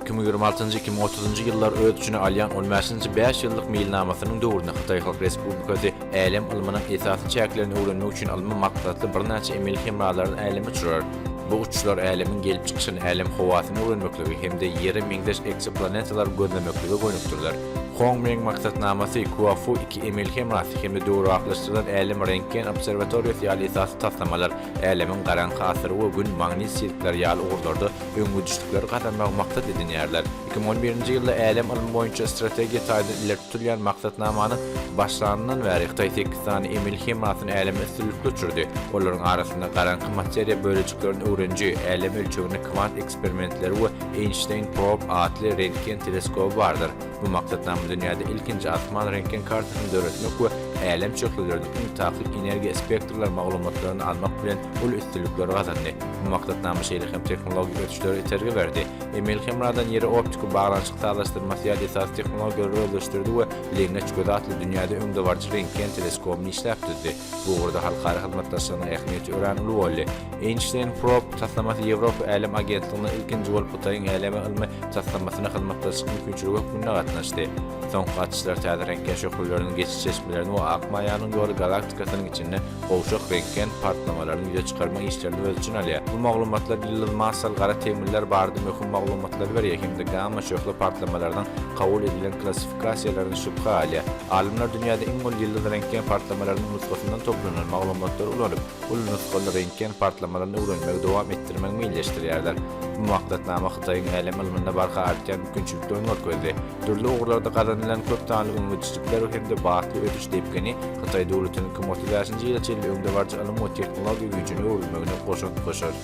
Iki müň ýigrimi altynjy, iki müň otuzynjy ýyllary öz içine alýan on bäşinji bäş ýyllyk meýilnamasynyň döwründe Hytaý Halk Respublikasy älem ylmynyň esasy çäklerini öwrenmek üçin ylmy maksatly birnäçe emeli hemralaryny äleme uçurar. Bu uçuşlar älemiň gelip çykyşyny, älem howasyny öwrenmekligi hem-de Ýere meňzeş eksoplanetalary gözlemeklige gönükdiriler. Hong Meng maksatnamasy, Kuafu iki emeli hemrasy hem-de döwrebaplaşdyrylan älem rentgen obserwatoriýasy ýaly esasy taslamalar älemiň garaňky asyry we Gün, magnit sirkleri ýaly ugurlarda öňegidişlikleri gazanmagy maksat edinýärler. Iki müň on birinji ýylda älem ylmy boýunça strategiýa taýdan ileri tutulýan maksatnamanyň başlanyndan bäri Hytaý sekiz sany emeli hemasyny äleme üstünlikli uçurdy. Olaryň arasynda garaňky materiýa bölejiklerini öwreniji, älem ölçeginde kwant eksperimentleri we Einstein Probe atly rentgen teleskoby bardyr. Bu maksatnama dünýäde ilkinji asman rentgen kartasyny döretmek we älem çökleleriniň iň takyk energiýa spektrler maglumatlaryny almak bilen uly üstünlikleri gazandy. Bu maksatnama şeýle hem tehnologik ösüşlere itergi berdi. Emil hemradan ýere optiki baglanyşyk sazlaşdyrmasy ýaly esasy tehnologiýalary özleşdirdi we Lengeç gözi atly dünýäde öňdebaryjy rentgen teleskobyny işläp düzdi. Bu ugurda halkara hyzmatdaşlygynyň ähmiýeti örän uly boldy. Einstein Probe taslamasy Ýewropa Älem agentligine ilkinji bolup Hytaýyň äleme ylmy taslamasyna hyzmatdaşlyk mümkinçiligi hökmünde gatnaşdy. Soňky gatyşlar täze rentgen şöhleleriniň geçiş çeşmelerini we Ak maýanyň ýoly galaktikasynyň içinde gowşak rentgen partlamalaryny ýüze çykarmak işlerini öz içine alýar. Bu maglumatlar ýyldyz massaly gara tegmiller barada möhüm maglumatlary berýär hem-de gamma şöhle partlamalarynyň kabul edilen klassifikasyýasy Kassiýalaryny şübhä alýar. Alymlar dünýäde iň uly ýyldyz rentgen partlamalarynyň nusgasyndan toplanan maglumatlary ulanyp, uly nusgaly rentgen partlamalaryny öwrenmegi dowam etdirmegi meýilleşdirýärler. Bu maksatnama Hytaýyň älem ylmynda barha artýan mümkinçiliklerini görkezdi. Dürli ugurlarda gazanylan köp sanly öňegidişlikler hem-de batly ösüş depgini Hytaý döwletiniň kim otuz bäşinji ýyla çenli öňdebaryjy ylym we tehnologiýa güýjüne öwrülmegine goşant goşar.